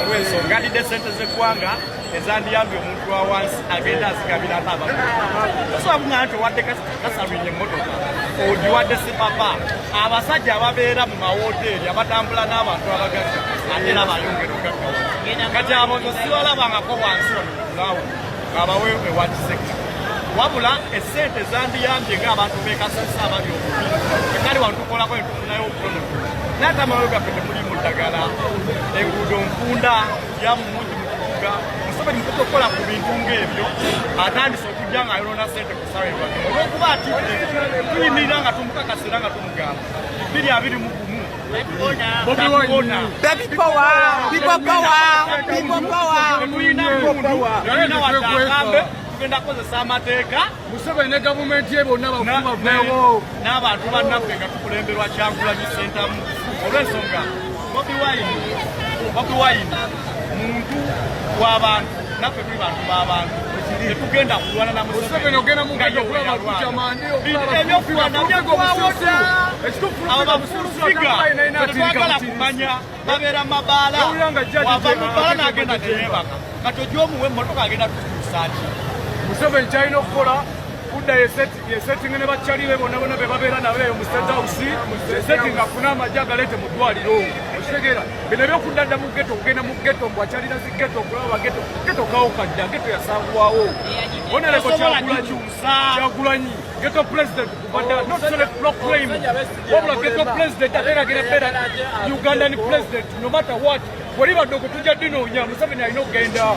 olw'ensonga adidde sente z'eggwanga ezandiyambye omuntu wa wansi agenda azigabira baba tosobunga nti owadde kasalwinye emmotoka ogiwadde sipapa abasajja ababeera mu mawoteeri abatambula n'abantu abagagga ate era bayongera ogaggawa kati abo tosibalabangako wansi omugawo abawe ewa kisekka wabula esente zandiyambye ng'abantu bekasasa abali obubi ekali wano tukolako netufunayo obutono naye tamayo gaffe temuli mu ddagala enguudo nfunda yamumungi mu kibuga museveni mukuta okukola ku bintu ng'ebyo atandise okujja ng'ayonona sente ku sawa olwokuba atidde tuyimirira nga tumukakasira nga tumugamba biri abiri mu gumu Baby power, people power, people power. tugenda kozesa amateeka museveni ne gavumenti ye bonna bakubavewo n'abantu bannaffe nga tukulemberwa kyankulanyi sentamu olw'ensonga bobi wine bobi wine muntu w'abantu naffe tuli bantu b'abantu tetugenda kulwana na museveniebyokulwana byakuwawoda abo bafulufiga tetwagala kumanya babeera mabaala wava mubaala n'agenda neyebaka kati ojomuwa emmotoka agenda tukusaaki museveni kyalina okukola kuddayo eseti yesettinge ne bakyali be bonna bonna be babeera nabo eyo mu state house yesettinge afune amagye agaleete mu ddwaliro okitegeera bino ebyokudda dda mu geto okugenda mu geto mbu akyalira zi geto okulaba bageto geto kawo kadda geto yasangwawo onereko kyagulanyi geto president kubadda oh, not select block claim wabula geto president ateeragera beera ugandan president no matter what Walibadde okutujja dinoonya Museveni alina okugenda.